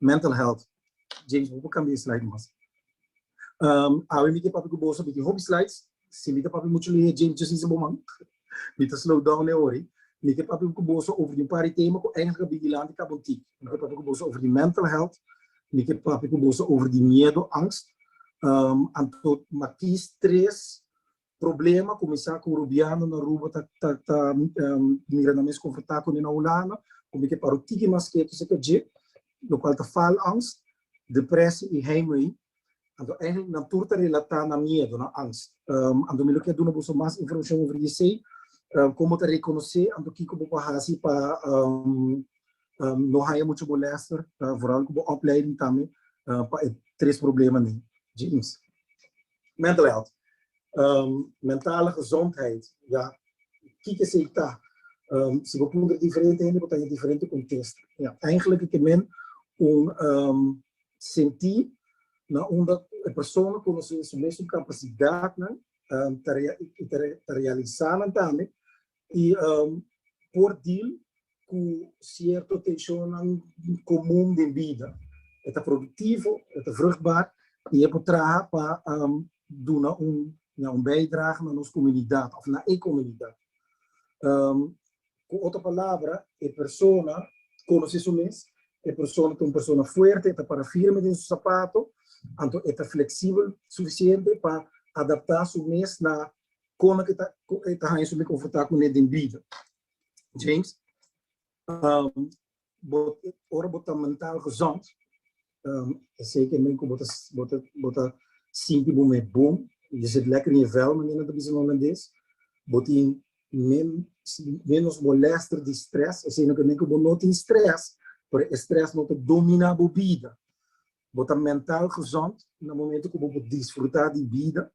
mental health James bo por cambia e slide mas um, awe mi te papi ku boso biki hopi slides si mi te papi mucho lehe James just dice bo man mi te slow down e ori mi te papi ku boso over di pari tema ku engelska bigi lanti ka bon tik mi te papi ku boso over di mental health mi te papi ku boso over di miedo angst um, anto matiz tres Problema kuminsá ku Rubiano na Aruba ta ta ta mira nan mes konfrontá kuné na Hulanda ku mi ke paru tiki mas ketu se ke dje, lokual ta faalangst, depresi i heimwee. Anto eiheimplu nan tur ta relatá na miedu, na angst. Anto mi lo ke duna boso mas informashon over esei, kon bo ta rekonosé, anto kiko bo por hasi pa no haña mucha molèster, vooral ku bo opleiding tambe, pa e tres problemanan? James. Mental health, mentale gezondheid, ya, kiko esei ta? Si bo puntra diferente hende bo ta haya diferente contesta. Ya, eigenlijk e ke men un senti na unda e persona conoce su mes capacidadnan, ta realiza nan tambe y um por deal cu cierto tencionnan comun den bida. E ta productivo, e ta vruchtbaar y e por traha pa um duna un ña un bijdrage na nos comunidad of na e comunidad. Um cu otro palabra e persona conoce su mes, e persona ta un persona fuerte, e ta para firme den su zapato, anto e ta flexibel suficiente pa adapta su mes na Kono ke ta e ta haña su me konfortá kuné den Biblia? James, um, bo, ora bo ta mental gezond, um, esei ke men ku bo ta, bo ta, bo ta sinti bo me bon, je zit lekker in je vel, manera ta bisa na holandés, bo tin men, menos molester di stres, esei no ke men ku bo no tin stres, pero e stres no ta domina bo bida. Bo ta mental gezond na momento cu bo por disfruta di bida.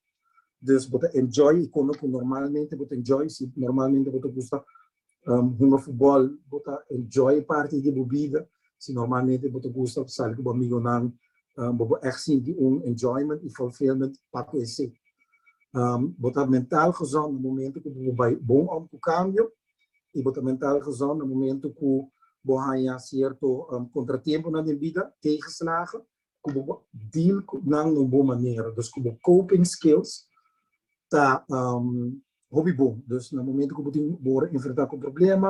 Dus bo ta enjoy y come cu normalmente bo ta enjoy. Si normalmente bo ta gusta hunga futbol, bo ta enjoy parti di bo bida. Si normalmente bo ta gusta sali cu bo amigonan, bo por echt sinti un enjoyment y fulfillment pa cu esey. Bo ta mental gezond na momento cu bo bai bon om cu cambio. i bo ta mental gezond na momento ku bo haña sierto kontratempunan den bida, tegenslagen, ku bo por deal ku nan na un bon manera. Dus ku bo coping skills ta hopi bon. Dus na momento ku bo tin, bo wòrdu enfrentá ku un problema,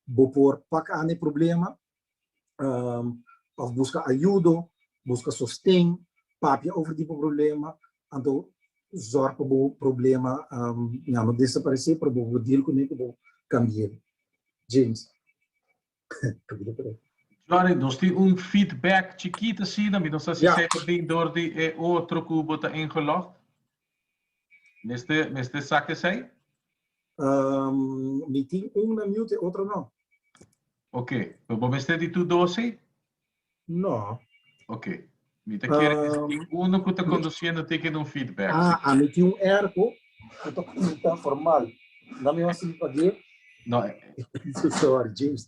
bo por pak an e problema um, of busca ayudo, busca sosten, papia over di bo problema, anto zorg pa bo problema um, ya no desaparece, pero bo deal con que bo cambia. James. Johnny, nos tem um feedback chiquito assim, nós estamos yeah. seconding door de e outro cubo tá ingelogd. Mester mester sak esei? Um, mi tin un na mute, e otro no. Ok, pero bo mester di tu dosi? No. Ok. Mi ta kere di Um, tin uno ku ta mi- kondusiendo tin ke dun feedback. Ah, a mi tin un erko, ku ta pinta formal. Dame un sip again. No, eh, So sorry, James.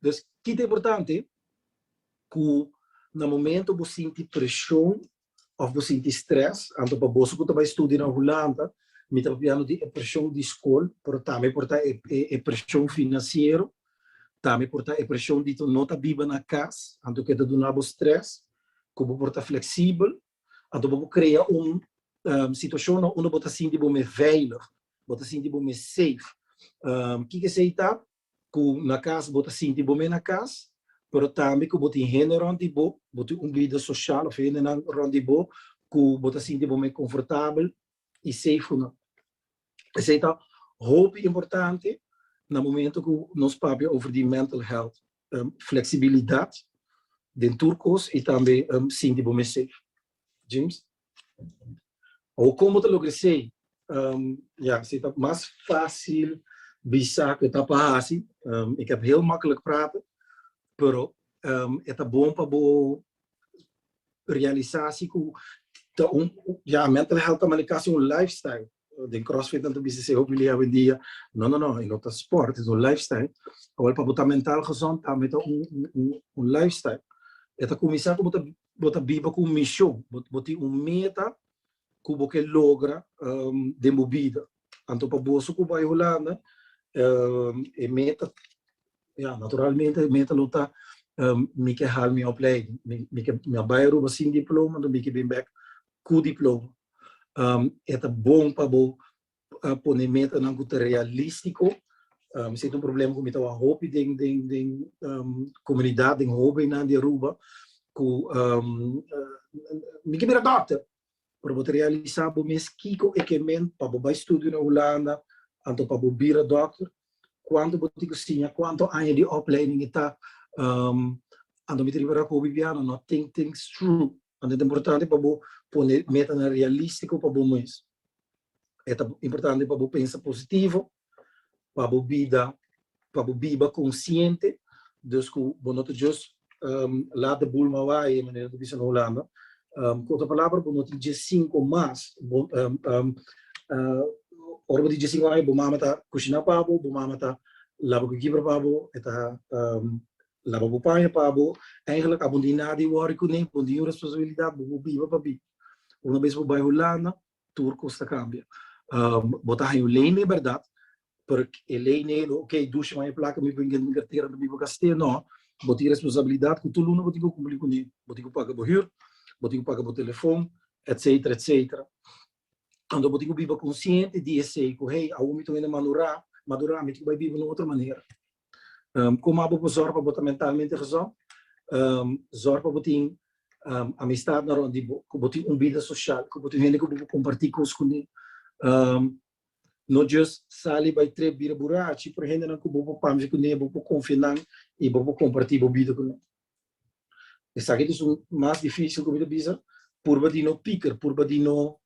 Des ki ta importante ku na momentu bo sinti preshon òf bo sinti strès, anto pa boso ku ta bai studia na Hulanda, mi ta papiando di e preshon di skol, pero tambe por ta e preshon finansiero, tambe por ta e preshon di no ta biba na kas, anto ke ta duna bo strès, ku bo por ta fleksibel, a topa ku krea un situashon na unda bo ta sinti bo mes veilig, bo ta sinti bo mes safe. Kiko esei ta? Ku na kas bo ta sinti bo mes na kas, pero tambe ku bo tin hende rònt di bo, bo tin un bida soshal òf hendenan rònt di bo ku bo ta sinti bo mes konfortabel i safe ku nan. Esei ta hopi importante na momentu ku nos papia over di mental health. flexibilidad den tur cos y tambe sinti bo mes safe. James? Awor con bo ta logra esey? Ya, si ta mas facil bisa cu ta pa haci, e keb heel makkelijk praten, pero e ta bon pa bo realisa si cu ta un, ya, mental health ta manica si un lifestyle. Den crossfit nan ta bisa esei hopi lei awendia. No no no, e no ta sport, es un lifestyle. Awor pa bo ta mental gezond tambe ta un lifestyle. E ta cuminsa cu bo ta biba cu un mision, bo tin un meta cu bo ke logra den bo bida. Anto pa boso cu bai Hulanda e meta Ya, naturalmente e meta lo ta mi ke hal mi opleiding, mi ke mi a bai Aruba sin diploma enton mi ke bin bek ku diploma. E ta bon pa bo pone metanan ku ta realistiko, esei ta un problema ku mi tabaha hopi den den den komunidat, den hobennan di Aruba ku mi ke bira dòkter, pero bo ta realisá bo mes kiko e ke mend pa bo bai studio na Hulanda anto pa bo bira dòkter, kuantu bo tin ku siña, kuantu aña di opleiding i ta, anto mi ta riba Raku Bibiana, no think things through, anto e ta importante pa bo pone metanan realístiko pa bo mes, e ta importante pa bo pensa positivo, pa bo bida, pa bo biba konsiente, dus ku bo no ta just lat de bul mawaye, manera bo ta bisa na Hulanda. Ku otro palabra, bo no tin dje sinku mas. Ora bo tin dje sinku aña, bo mama ta kushiná pa bo, bo mama ta laba bo kibra pa bo, e ta laba bo paña pa bo. Eigelik abo no tin nada di wòri kuné, bo no tin un responsabilidat, bo por biba pa bi. Una bes bo bai Hulanda, tur cos ta cambia. Bo ta haña un ley mi berdad, pero e ley no e ok, dushi man e placa mi bin den cartera mi bin gast'e, no, bo tin responsabilidad cu tur luna bo tin cu cumpli cune, bo tin cu paga bo hür, bo tin cu paga bo telefon, etcetera, etcetera. Anto bo tin cu biba consciente di esey, cu hey, awo mi ta wende manura, madura, mi tin cu bai biba na otro manera. Kuma bo por zòrg pa bo ta mentalmente gezond? Zòrg pa bo tin amistadnan rònt di bo, ku bo tin un bida soshal, ku bo tin hende ku bo por kompartí kos kuné. No jus sali bai trep bira burachi, pero hendenan ku bo por pamshia kuné, bo por konfia nan i bo por kompartí bo bida kuné. Esaki ta su mas dificil cu mi ta bisa, purba di no piker, purba di no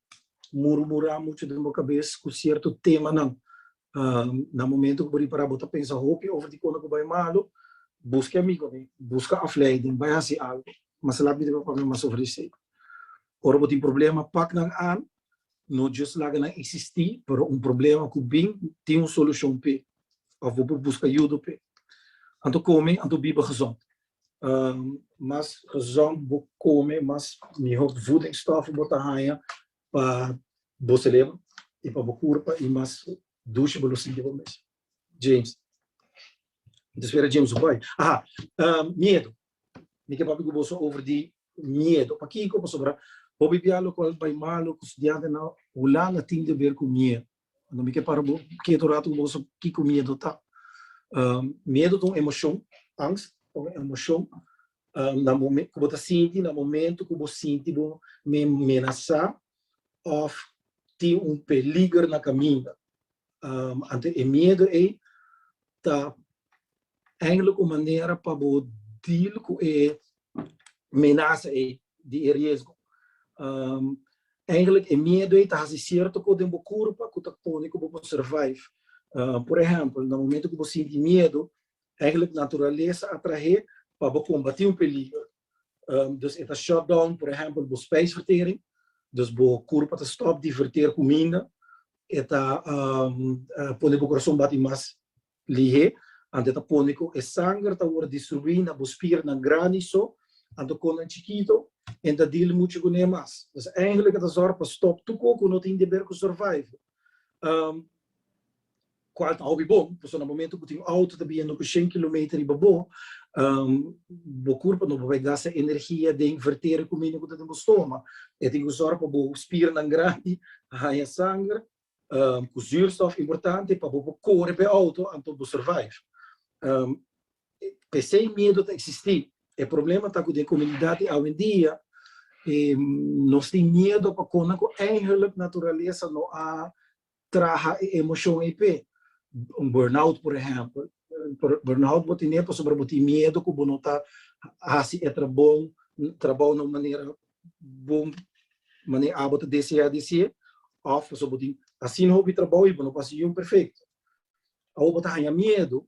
murmura mucho den bo cabes cu cierto temanan. Na momento cu bo ripara bo ta pensa hopi over di cosa cu bay malo, busque amigo mi, busca afleiden, bay haci algo. Mas labi mi ta papami mas over di esey. Ora bo tin problema, pak nan aan. no just laga nan existi pero un problema cu bin tin un solucion p'e of bo por busca yudo p'e anto come anto biba gezond mas gezond bo come mas miho voedingsstoffen bo ta haña pa bo celebra y pa bo curpa y mas dushi bo lo sinti bo mes James ta spera James su bai aha miedo Mi ke papia ku boso over di miedu. Pakiko? Pasobra hopi bia lokual bai malu ku studiante nan hulan a tin keber ku miedu. Mi ke para bo kiet un ratu ku bo sa kiko miedu ta. Miedu ta un emoshon, angst ta un emoshon ku bo ta sinti na momentu ku bo sinti bo menasá òf tin un peliger na kaminda. Anto e miedu ei ta Eindelijk un manera pa bo deal cu e menaza ey di e riesgo. Eindelijk e miedo ey ta haci cierto cos den bo curpa cu ta pone cu bo por survive. Por ehempel, na momento cu bo sinti miedo, eindelijk naturalesa a trahe pa bo combati un peligro. Dus e ta shut down, por ehempel, bo spijsvertering, dus bo curpa ta stop di verter cuminda, e ta pone bo corazon bati mas Lihe, anto e ta pone ku e sanger ta wòrdu distruí na bo spiernan grandi so, anto kon nan chikito, e nta dil muchu ku ne mas. Pues èngel e ta sòrp pa stòp tur kos ku no tin deber ku survive, kual ta hopi bon, pasobra na momentu ku tin outo ta biendo ku shen kilometer riba bo, bo kurpa no papia gasta energia den verter kuminda ku ta den bo stoma. E tin ku sòrp pa bo spiernan grandi haña sanger, ku zuurstof importante pa bo por kore pa e outo anto bo survive. P'esei e miedo ta eksistí. E problema ta ku den komunidat di awendia nos tin miedo pa kos nan ku einhelijk naturalesa no a traha e emoshon ei p'e. Un burnout por ehèmpel, burnout bo tene pasobra bo tin miedo ku bo no ta hasi e trabou, trabou na un manera bo manera abo ta desea di ser of pasobra bo tin asina hopi trabou y bo no por hasi yiun perfecto. Awo bo ta haña miedu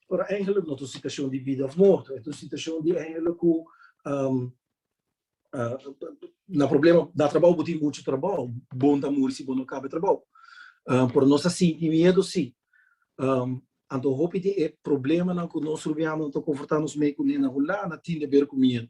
pero eigenlijk no ta un situacion di bida of morto, e ta un situacion di eigenlijk cu na problema na trabou bo tin muchu trabou, bon ta muri si bo no caba e trabou. Pero nos ta sinti miedu si. Anto hopi di e problemanan cu nos rubianan ta confronta nos mei cune na Hulanda tin deber cu miedu.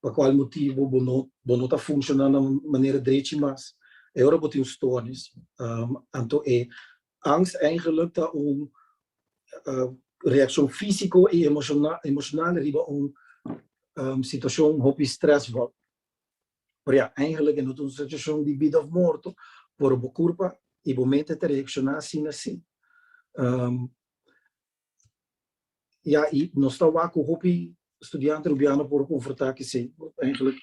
pa kual motibu bo no bo no ta funshoná na un manera drechi mas, e ora bo tin un stòrnis. Anto e angst eingelik ta un reakshon físiko i emoshonal riba un situashon hopi strèsvol. Pero ja, eingelik e no ta un situashon di bida òf morto, pero bo kurpa i bo mente ta reakshoná asin na sí. Ya i nos ta wak ku hopi studiante rubiano por konfrontá kesei. Eigenlijk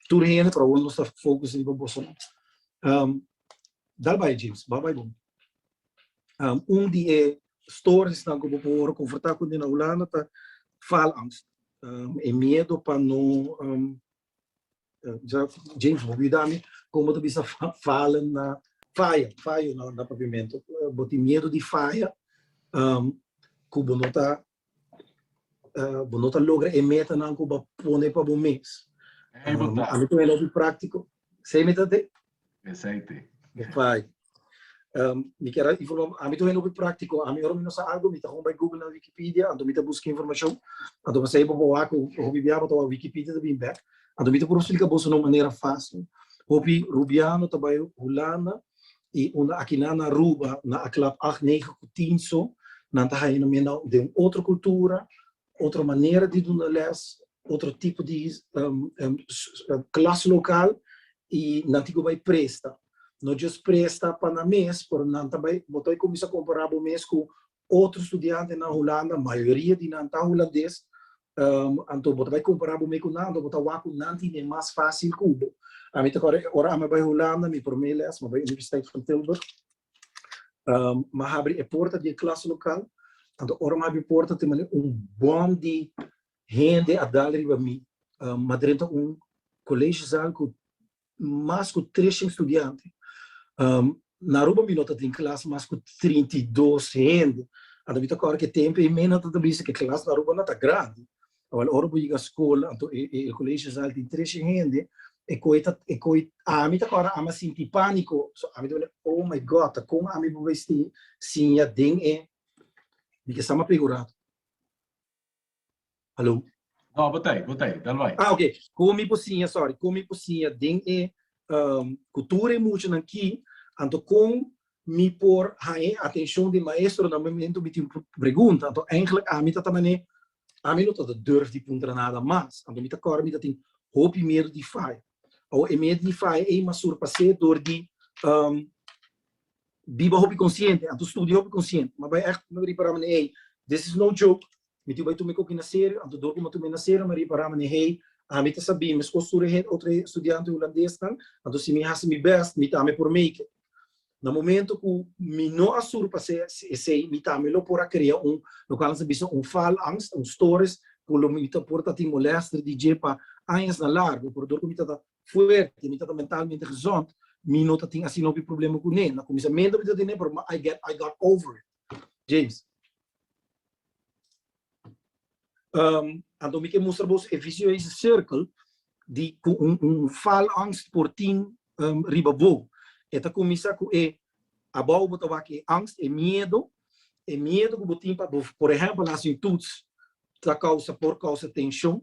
tur hende, pero awor nos ta fokus riba boso nan. Dal bai James, ba bai bo. Un di e storesnan ku bo por wòrdu konfrontá ku nan na Hulanda ta faalangst, e miedo pa no James bo yuda mi con bo ta bisa fala na faya faya na pavimento bo tin miedo di faya cu bo no ta bo no ta logra e metanan cu bo a pone pa bo mes ami ta wene loke practico sey mi ta Esei te. Pai. Um, mi quiero informar, a mí también lo práctico, a mí ahora no sé algo, mi está con by Google na Wikipedia, ando mi te busca información, ando me sei bobo a con hopi biaba to Wikipedia te bin back, ando mi te por explicar boso no manera fácil. Hopi Rubiano te by Holanda y una aquí na na Aruba, na a club 8 9 kutinso, nan ta haina mena de un otro cultura, otro manera di duna lès, otro tipo di klas lokal i nan tin ku bai presta. No just presta pa nan mes, pero nan ta bai, bo ta bai kuminsá kompará bo mes ku otro studiantenan Hulanda, mayoria di nan ta hulandes, anto bo ta bai kompará bo mes ku nan, anto bo ta wak ku nan tin e mas fásil ku bo. Ami ta kòrda ora ami a bai Hulanda, mi promé lès mi a bai Universiteit van Tilburg, ma habri e porta di e klas lokal, anto ora mi habri e porta tin manera un bòm di hende a dal riba mi, ma dren ta un koleshi sal ku mas ku tres shin studiante, na Aruba mi no ta tin klas mas ku trinta i dos hende, anto mi ta kòrda ku e tempu ei mi no ta bisa ku e klas na Aruba no ta grandi, Awor ora bo yega skol, anto e e koleshe sal tin treshe hende, e koi ta e koi ami ta kòrda ami a sinti pániko, so ami ta wòrdu oh my God, ta kon ami por mester siña den e di ke sama pegurado. Haló? No, bo ta ei, bo ta ei, dal bai. Ah, ok, kon mi por siña, sòri, kon mi por siña den e ku tur e muchanan ki, anto kon mi por haña e atenshon di e maestronan momentu mi tin un pregunta, anto èiglèk ami ta ta manera Ami no tabata durf di puntra nada mas, anto mi ta kòrda mi ta tin hopi miedu di faya. Awa e miedu di faya ei mas surpas'é dor di biba hopi konsiente, anto studia hopi konsiente. Mi bai èkt mi bai ripará manera ei this is no joke, mi tin bai tuma e koki na serio, anto dor ku mi a tuma e na serio mi a ripará manera ei ami ta sabí meskos tur e otro e studiante hulandes nan, anto si mi hasi mi bèst mi tambe por make it. Na momento ku mi no a sur pa ser esei, mi tambe lo por a krea un, lokual nan ta bisa un faalangst, un stoornis, ku lo mi ta por ta tin molèster di dje pa añas na largu. Pero dor ku mi ta ta fuerte, mi ta ta mentalmente gezond, mi no ta tin asinopi problema kuné. Na kuminsamentu mi ta tene, pero I got over it. James. Um, anto mi ke mustra bos e vicieuze circle di ku un, un faalangst por tin um, riba bo. E ta kumisa ku e abou bo tabak e angst, e miedo, e miedo ku bo tin pa bo, por ehempel, hasi un toets ta causa por causa tension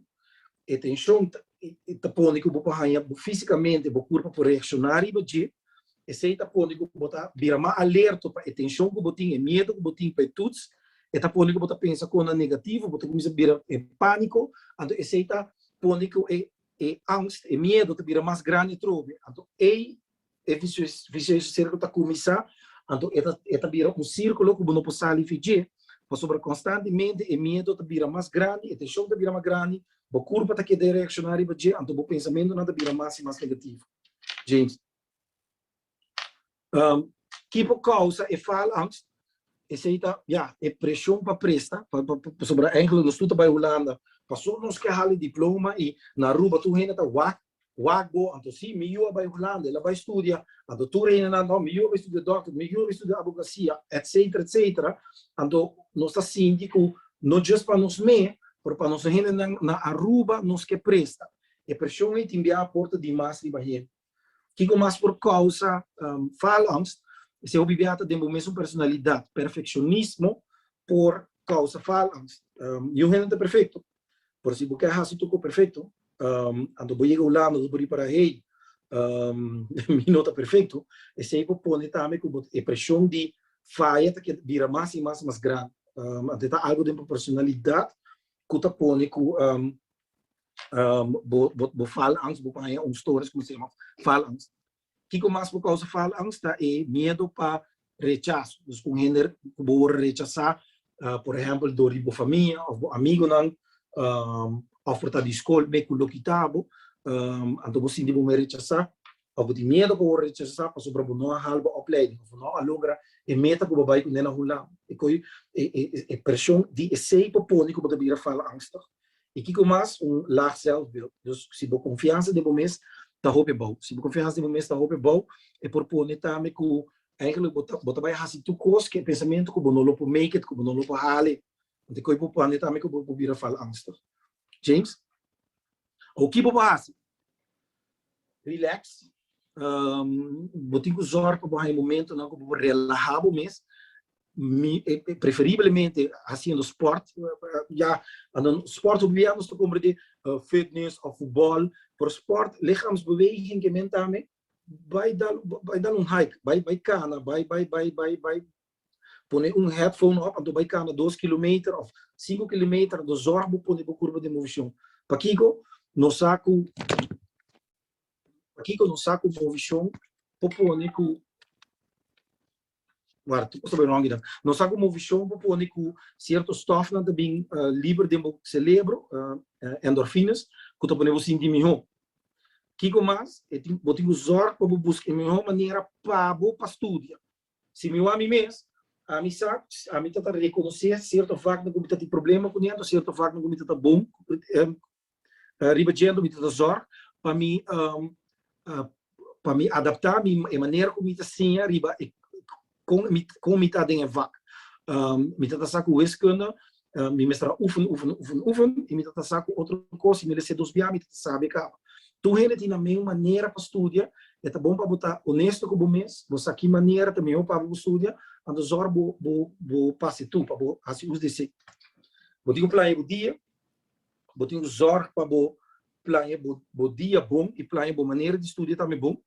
e tension ta pone cu bo por haya fisicamente bo curpo por reacciona riba dje esey ta pone cu bo ta bira mas alerto pa e tension cu bo tin e miedo cu bo tin pa e tuts e ta pone cu bo ta pensa cosnan negativo bo ta cuminsa bira e panico anto esey ta pone cu e angst e miedo ta bira mas grandi atrobe anto ey e viciuso circulo ta cuminsa anto e ta bira un circulo cu bo no por sali fi dje pasobra constantemente e miedo ta bira mas grandi e tension ta bira mas grandi bo curpa ta keda reacciona riba dje anto bo pensamentonan ta bira mas y mas negativo James ki por causa e faalangst esey ta ya e presion pa presta pasobra Angela nos tur ta bay Hulanda paso nos ke hala e diploma y na Aruba tur hende ta wak Wak bo, anto sí, mi yu a bai Hulanda, el a bai studia, anto tur e hinennan, no, mi yu a bai studia dòkter, mi yu a bai studia abogasia, etcétera, etcétera, anto nos ta sinti ku no djes pa nos mé, pero pa nos hinennan na Aruba nos ke presta. E preshon ei tin bia por ta di mas riba hende. Kiko mas por kousa falangst? Esei hopi bia ta den bo mesun personalidat. Perfekshonishmo por kousa falangst. Niun hende ta perfekto. Pero si bo ke hasi tur ko perfecto, anto bo yega Hulanda anto bo ripara, hey, mi no ta perfecto, esey bo pone tambe ku e presion di faya ta keda bira mas i mas i mas grandi. Anto e ta algu den bo personalidat ku ta pone ku bo fala angst, bo paña un stoornis ku bo ta yama fala angst. Kiko mas por causa faalangst ta e miedo pa rechas, dus con hende cu bo word rechasa, por ehempel door di bo famia of bo amigonan, of por ta di school mee cu lo kita bo, anto bo sinti bo mer rechasa, of bo tin miedo pa word rechasa pasobra bo no a haal bo opleiding of bo no a logra e meta cu bo bay cu nena hunlao, e presion di esey por pone cu bo ta bira faalangstig. I kiko mas? Un laag zelfbeeld. Dus si bo konfiansa den bo mes ta hopi bou, si bo konfiansa den bo mes ta hopi bou, e por pone tambe ku eigentlik bo ta bo ta bai hasi tur kos ku e pensamentu ku bo no lo por make it, ku bo no lo por hala e. Te ku e por pone tambe ku bo por bira falangstig. James, Oki bo por hasi? Relax, bo tin ku zòrg pa bo haña momentunan ku bo por relahá bo mes, preferiblemente hasiendo spòrt, ya spòrt hopi bia nos ta komprendé fitness òf futbòl, pero spòrt, lichaamsbeweging, ke men ta bai dal un hike, bai kana, bai bai bai bai bai Pone un headphone op anto bai kanda dos kilometer of sinku kilometer anto zorg bo pone bo kurba den movishon. Pakiko? Nos sa ku Pakiko nos sa ku movishon por pone ku ward tur kos ta bai ròngi dan. Nos sa ku movishon por pone ku sierto stòfnan ta bin liber den bo selebro, endorfinas, ku ta pone bo sinti mihó. Kiko mas? E tin bo tin ku zorg pa bo buska e mihó manera pa bo pa studia. Si mi wak mi mes, ami sa, ami ta ta rekonosé sierto vaknan ku mi ta tin problema ku djento, sierto vaknan ku mi ta ta bon riba djento, mi ta ta zòrg pa mi pa mi adaptá mi e manera ku mi ta siña riba kon mi kon mi ta den e vak. Mi ta ta sa ku weskunda mi mester a ufen, ufen, ufen, ufen, i mi ta ta sa ku otro kos, si mi lese dos biaha mi ta ta sabi e kaba. Tur hende tin amen manera pa studia, e ta bon pa bo ta onesto ku bo mes, bo sa ki manera ta mihó pa bo studia, anto zòrg bo bo bo pasa e tur, pa bo hasi us di esei. Bo tin ku plaña bo dia, bo tin ku zòrg pa bo plaña bo bo dia bon, i plaña bo manera di studia tambe bon,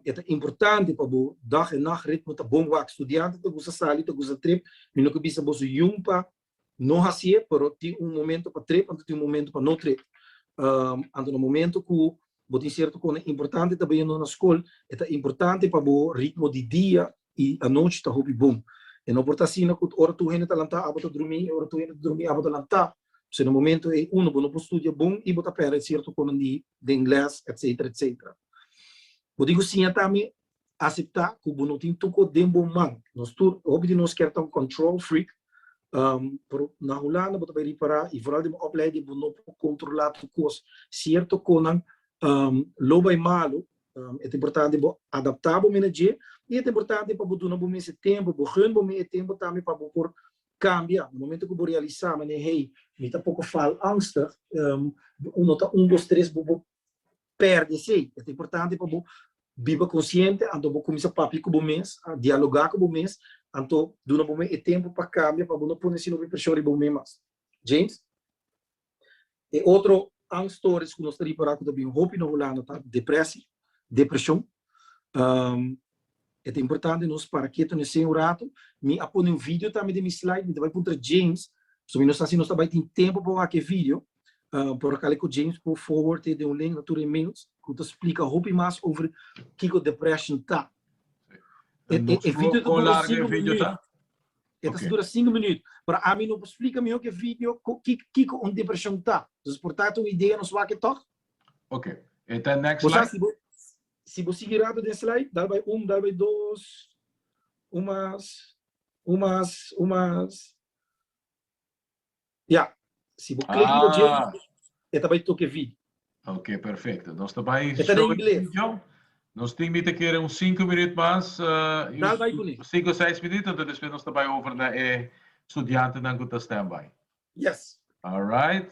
e ta importante pa bo dag en nacht ritmo ta bon wak studiante ta gusta sali ta gusta trip mi no ke bisa boso jun pa no hacié pero tin un momento pa trip anto tin un momento pa no trip anto na momento ku bo tin cierto kos importante ta baña no na skol e ta importante pa bo ritmo di dia i anochi ta hopi bon. E no por ta asina ku ora tur hende ta lantá abo ta drumí i ora tur hende ta drumí abo ta lantá. P'esei na momentu ei unu bo no por studia bon i bo ta pèrdè sierto konan di den lès etsetera etsetera. Bo tin ku siña tambe aseptá ku bo no tin tur kos den bo man. Nos tur, hopi di nos kier ta un control freak, pero na Hulanda bo ta bai ripará i foral den bo opleiding bo no por kontrolá tur kos. Sierto konan lo bai malu E ta importante bo adaptá bo mene dje i e ta importante pa bo duna bo mes e tempu, bo gun bo mes e tempu tambe pa bo por kambia. Na momentu ku bo realisá manera hey, mi ta poko faalangstig, uno ta un dos tres bo por pèrdè esei. E ta importante pa bo biba konsiente, anto bo kuminsá papia ku bo mes, dialogá ku bo mes, anto duna bo mes e tempu pa kambia pa bo no pone asina preshon riba bo mes mas. James? E otro angststoornis ku nos ta ripará ku ta bin hopi na Hulanda ta deprèsie, depreshon. E ta importante nos para ketu na esei un ratu. Mi a pone un video tambe den mi slide. Mi ta bai puntra James, pasobra mi no sa si nos ta bai tin tempu pa wak e video. Por akal ku James por forward e den un link na tur e mails ku ta splika hopi mas over kiko depression ta. E video ta dura sinku minüt. E ta dura sinku minüt. Pero ami no por splika mihó ku e video kiko un depreshon ta. Entonces por ta un idea nos wak e tòg? Ok. E ta next slide. Bo sa si bo si bo sigui rato den slide, dal bai un, dal bai dos, un mas, un mas, un mas. Ya, si bo klik riba dje Ah, e ta bai toke vi. ok, perfecto. Nos ta bai E ta na show e ingles. video. Nos tin mi ta kere un sinku minuut mas, eh, y Dal bai ku ni. sinku seis minuut, enta despues nos ta bai over na e studiantenan ku ta standby. Yes. Alright.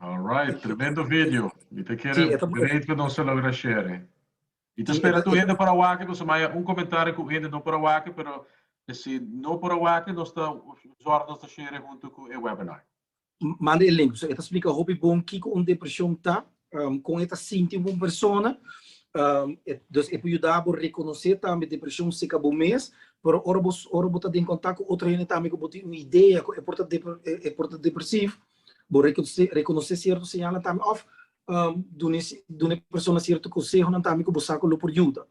Alright, tremendo video. Mi ta kere great ku nos a logra share. Mi ta spera tur hende por a wak, nos a maya un komentario ku hende no por a wak, pero si no por a wak nos ta zòrg nos ta share huntu ku e webinar. Manda e link, pasobra e ta splika hopi bon kiko un depreshon ta kon e ta sinti pa un persona, dus e por yuda bo rekonosé tambe depreshon serka bo mes, pero ora bo ora bo ta den kontak ku otro hende tambe ku bo tin un idea ku e por ta e por ta depresivo, bo rekonosé sierto señalnan tambe òf dun'é dun'é persona sierto konsehonan tambe ku bo sa ku lo por yuda.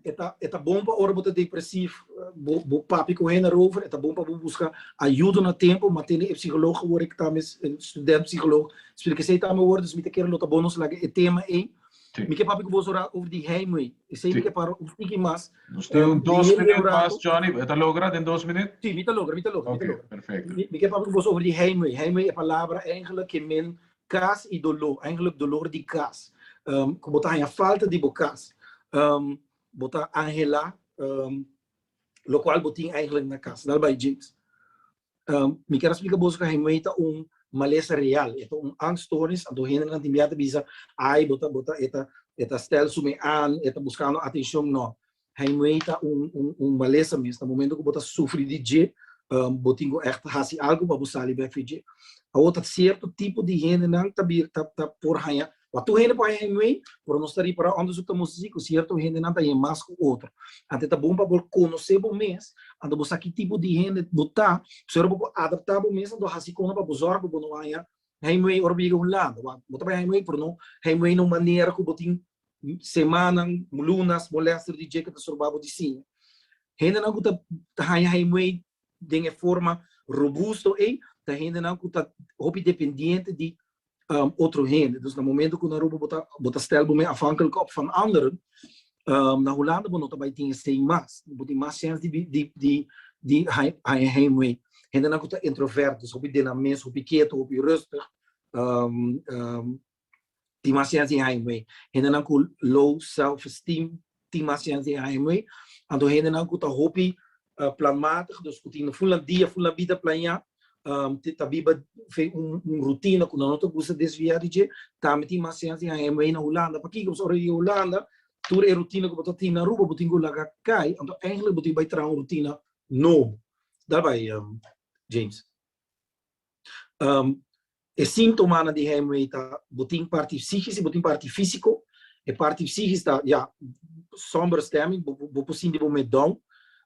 e ta e ta bon pa ora bo ta depresief bo bo papia ku hen arover e ta bon pa bo buska ayudo na tempo ma tende e psikolog ku wor ekta mes e student psikolog spre kesei ta mi wor dus mi ta kere lo ta bon nos laga e tema ei mi ke papia ku bo sora over di heimwee esei mi ke para un tiki mas Nos tin un dos minüt mas Johnny e ta logra den dos minüt? si mi ta logra mi ta logra mi ta logra mi ke papia ku bo over di heimwee heimwee e palabra engelek ke men Kas i doló, eigenlijk dolor di kas, ku bo ta haña falta di bo kas. Bo ta anhelá lokual bo tin eigenlijk na kas. Dal bai James. Mi kier a splika boso ku heimwee ta un malesa real, e ta un angststoornis. Anto hendenan tin bia ta bisa, Ai, bo ta, bo ta, e ta, e ta stel su me aan, e ta buskando atenshon. No. Heimwee ta un un malesa mes na momento ku bo ta sufri di dje bo tin ku ègt hasi algu pa bo sali bèk for dje. Awor ta sierto tipo di hendenan ta bira ta ta por haña wak tur hende por haña heimwee pero nos ta ripará òndersuk ta mustra si ku sierto hendenan ta haña mas ku otro. Anto ta bon pa bo konosé bo mes anto bo sa ki tipo di hende bo ta pasobra ora bo por adaptá bo mes anto hasi kon pa bo sòru ku bo no haña heimwee ora bo yega un lado. Bo ta bai heimwee pero no heimwee na un manera ku bo tin semanan, lunas, molester di dje ku ta storba bo di siña. Hendenan ku ta haña heimwee den e forma robusto ei, ta hendenan ku ta hopi dependiente di otro hende. Dus na momentu ku nan roba bo ta bo ta stèl bo men afhankelijk op van anderen, na Hulanda bo no ta bai tin esei mas. Bo tin mas chèns di di di di haña heimwee. Hendenan ku ta introvert, dus hopi den nan mes, hopi keto, hopi rùstig, tin mas sense di haña moe. Hendenan ku low self esteem tin mas sense di haña moe. Anto hendenan ku ta hopi planmatig, dus ku tin fulan dia, fulan bida plañá, ta biba un rutina ku nan no ta gusta desviá di dje, tambe tin mas sense di haña moe na Hulanda. Pakiko? Pasobra di Hulanda tur e rutina ku bo ta tin na Aruba bo tin ku laga kai, anto eigenlijk bo tin bai traha un rutina nobo. Dal bai James. E sintomanan di heimwee ta bo tin parti psikisch i bo tin parti fisiko. E parti psikisch ta ya somber stemming, bo por sinti bo medon,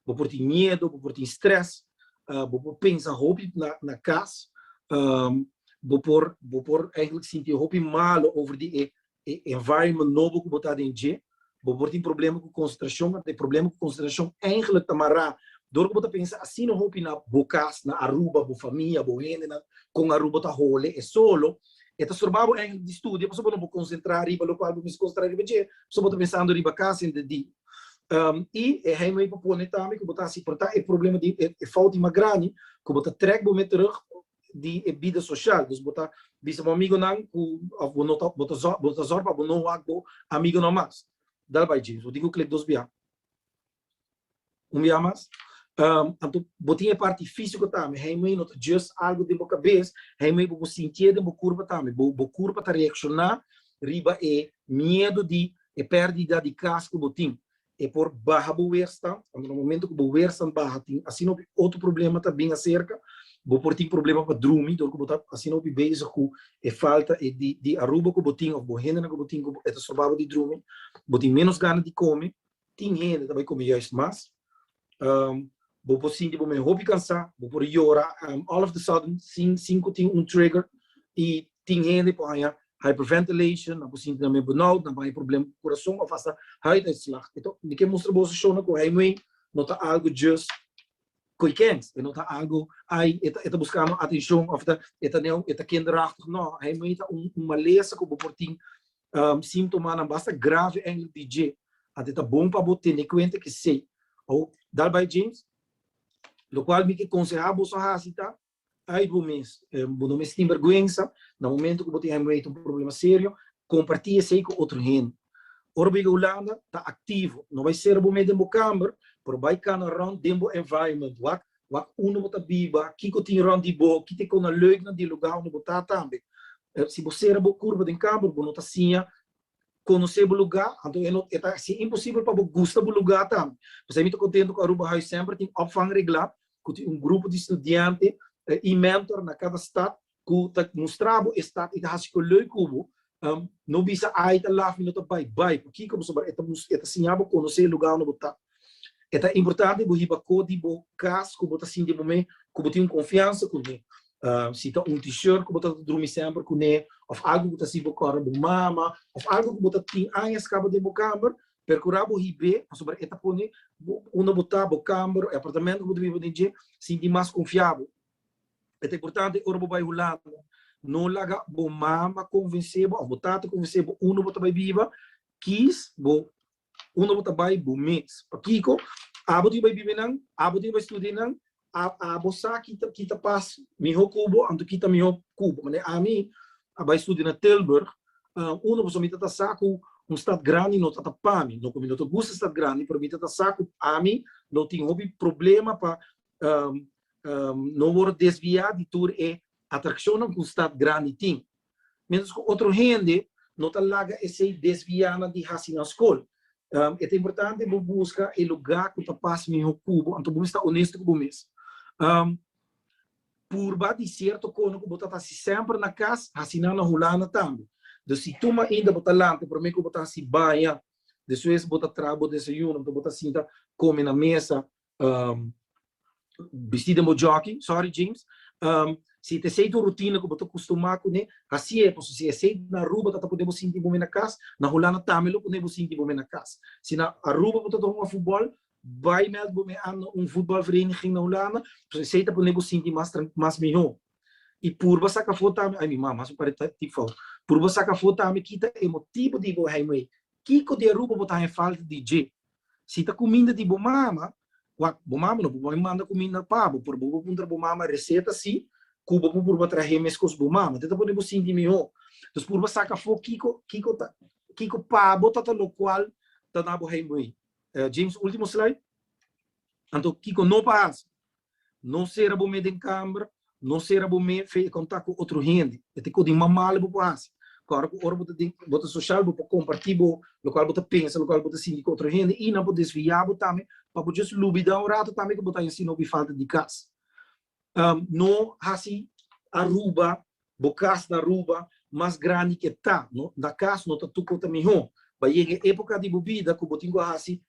bo por tin miedu, bo por tin stress, bo por pensa hopi na kas, bo por bo por sinti hopi malu over di e e environment nobo ku bo ta den dje, bo por tin problema ku konsentrashon, mante e problema ku konsentrashon eigenlik ta mará dor ku bo ta pensa asina hopi na bo kas, na Aruba, bo famia, bo hendenan kon Aruba bo ta hole e solo, e ta storbá bo eigenlik di studia pasobra bo no por konsentrá riba lokual bo mester konsentrá riba dje, pasobra bo ta pensando riba kas henter di. I e heimwee pa pone tambe ku bo ta hasi porta e problema di e fout di mas grandi ku bo ta trèk bo mee terug di e bida social. Dus bo ta bisa bo amigonan ku òf bo no ta bo ta zòrg bo ta zòrg pa bo no wak bo amigonan mas. Dal bai James, bo tin ku klek dos biaha? Un biaha mas? Anto bo tin e parti físiko tambe. Heimei no ta just algu den bo kabes, heimei bo por sintié den bo kurpa tambe. Bo bo kurpa ta reakshoná riba e miedu di e pèrdida di kas ku bo tin. E por baha bo weerstand, want na momento cu bo weerstand baha tin asina hopi otro problema ta bin acerca. Bo por tin problema pa drumi dor cu bo ta asina hopi bezig cu e falta e di Aruba cu bo tin of bo hendenan cu bo tin cu e ta strobabo di drumi. Bo tin menos gana di come. Tin hende ta bay come juist mas. bo por sinti bo mes hopi cansá, bo por yora all of the sudden sin sin cu tin un trigger, y tin hende por haña hyperventilation, nan por sinti nan mes benauwd, nan por haña problem cu curason of hasta huiduitslag. Enton mi ke mustra boso shownan cu heinuei no ta algo djust koikens, e no ta algo ai e ta e ta buscando atencion of e ta e ta neo e ta kinderachtig, no, heinuei ta un malesa cu bo por tin Sintomanan basta grave eindelijk di dje, anto ta bon pa bo tene kuenta ku esei. Awor, dal bai James, lokual mi ke konsehá boso hasi ta, Ai bo mes, bo no mester tin bèrgwensa, na momentu ku bo tin hèmrèit, un problema serio, kompartí esei ku otro hende. Ora bo yega Hulanda, ta aktivo. No bai sera bo mes den bo kamber, pero bai kana rònt den bo environment, wak Wak unda bo ta biba, kiko tin rònt di bo, kite kon na leuknan di lugá unda bo ta tambe. Si bo sera bo kurpa den kamer, bo no ta siña konosé bo lugá, anto e no e ta hasi imposibel pa bo gusta bo lugá tambe. P'esei mi ta kontentu ku Aruba Huis semper tin òpvang reglá, ku tin un grupo di studiante i mèntor na kada stat ku ta mustra bo e stat i ta hasi kolui ku bo, no bisa ai ta laf mi no ta bai, bai. Pakiko? Pasobra e ta siña bo konosé e lugá unda bo ta. E ta importante bo hiba ko di bo kas ku bo ta sinti bo mes ku bo tin un konfiansa kuné. Si ta un T-shirt ku bo ta drumi semper kuné òf algu ku ta hasi bo kòrda bo mama òf algu ku bo ta tin aña skaba den bo kamber, perkurá bo hib'é pasobra e ta pone bo unda bo ta, bo kamber, e apartamentu ku bo ta biba den dje, sinti mas konfiabu. E ta importante ora bo bai Hulanda, no laga bo mama konvensé bo òf bo tata konvensé bo unda bo ta bai biba, kies bo unda bo ta bai bo mes. Pakiko? Abo tin ku bai biba nan, abo tin ku bai studia nan, a abo sa ki ta ki ta pas mihó ku bo, anto ki ta mihó ku bo. Manera ami a bai studia na Tilburg, unda boso mi ta ta sa ku un stat grandi no ta ta pa mi, no ku mi no ta gusta stat grandi, pero mi ta ta sa ku ami lo tin hopi problema pa no wor desviá di tur e atrakshonnan ku stat grandi tin. Miéntras ku otro hende no ta laga esei desviá nan di hasi nan skol. E ta importante bo buska e lugá ku ta pas mihó ku bo, anto bo mester ta onesto ku bo mes. Purba di sierto kona ku bo ta hasi semper na kas, hasi nan na Hulanda tambe. Dus si tur mainda bo ta lanta promé ku bo ta hasi baña, despues bo ta traha bo desayuno, anto bo ta sinta kome na mesa Um, Bisti den bo jockey, sorry James. Um, si te sei tu rutina ku bo ta kustumá kuné, hasi e, paso si e sei na Aruba ta ta pone bo sinti bo me na kas, na Hulanda tambe lo pone bo sinti bo me na kas. Si na Aruba bo ta ta hunga futbòl, bai mèld bo me an na un futbòlvereniging na Hulanda, paso esei ta pone bo sinti mas tran, mas mihó. I purba saka afó tambe, ai mi mama, su pare ta tip fout. Purba saka afó tambe kita e motibu di bo heimwee. Kiko di Aruba bo ta haña falta di dje? Si ta kuminda di bo mama, wak, bo mama no por por manda kuminda pa bo, pero bo por puntra bo mama reseta si ku bo por purba trahe e mes kos bo mama. Te ta pone bo sinti mihó. Entonces purba saka afó kiko, kiko ta, kiko pa bo ta ta lokual ta na bo heimwee. James, último slide. Anto kiko no pa hasi? No sera bo me den kamber, no sera bo me fe e kontak ku otro hende. E ta ku di mas mal bo por hasi. Ku ora ku ora bo ta den, bo ta sosial, bo por kompartí bo, lokual bo ta pensa, lokual bo ta sinti ku otro hende i nan por desviá bo tambe pa bo just lubidá un ratu tambe ku bo ta hasi no bin falta di kas. No hasi Aruba, bo kas na Aruba, mas grandi ke ta. No, na kas no ta tuko ta mihó. Bai yega e époka di bo bida ku bo tin ku hasi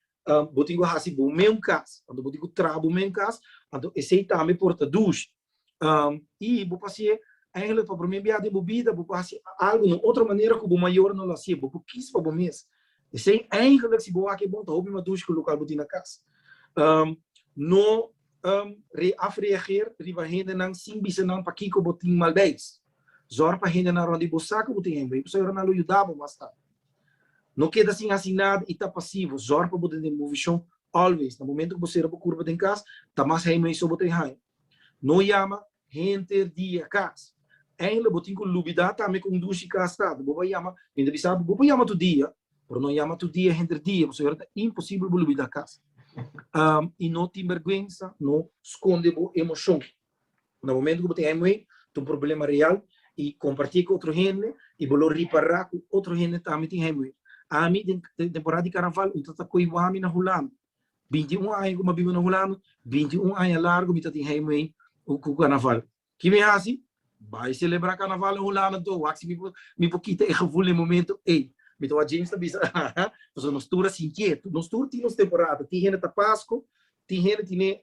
bo tin ku hasi bo meun kas, anto bo tin ku traha bo meun kas, anto esei tambe por ta dushi. I bo por hasié, ènglèk pa promé biaha den bo bida, bo por hasi algu na otro manera ku bo mayornan no lo hasié, bo por kis pa bo mes. Esei ènglèk si bo wak e bon ta hopi mas dushi ku lokal bo tin na kas. No afreageer riba hendenan sin bisa nan pakiko bo tin malbes. Zòrg pa hendenan rònt di bo sa ku bo tin hende, bo sa nan lo yuda bo mas tardi. No keda sin hasi nada i ta pasivo. Zòrg pa bo ta den bon vishon always. Na momentu ku bo sera bo kurba den kas, ta mas hei mei so bo ta bin haña. No yama henter dia kas. Eindelijk bo tin ku lubidá tambe kondushi kas tata. Bo por yama, mi ta bisa bo, bo por yama tur dia, pero no yama tur dia henter dia, pasobra yora ta imposibel bo lubidá kas. I no tin bèrgwensa, no skonde bo emoshon. Na momentu ku bo tin heimwee, ta un problema real i kompartí ku otro hende i bo lo ripará ku otro hende tambe tin heimwee. Ami den temporada di karnaval un tata koi wami na Hulanda. Binti un aña ku mi a biba na Hulanda, binti un aña largu mi ta tin heimwee ku karnaval. Ki mi hasi? Bai selebrá karnaval na Hulanda anto, wak si mi por kita e gevul den momentu ei. Mi ta wak James ta bisa pasobra nos tur a sintié. Nos tur tin nos temporada. Tin hende ta Pasko, tin hende tin e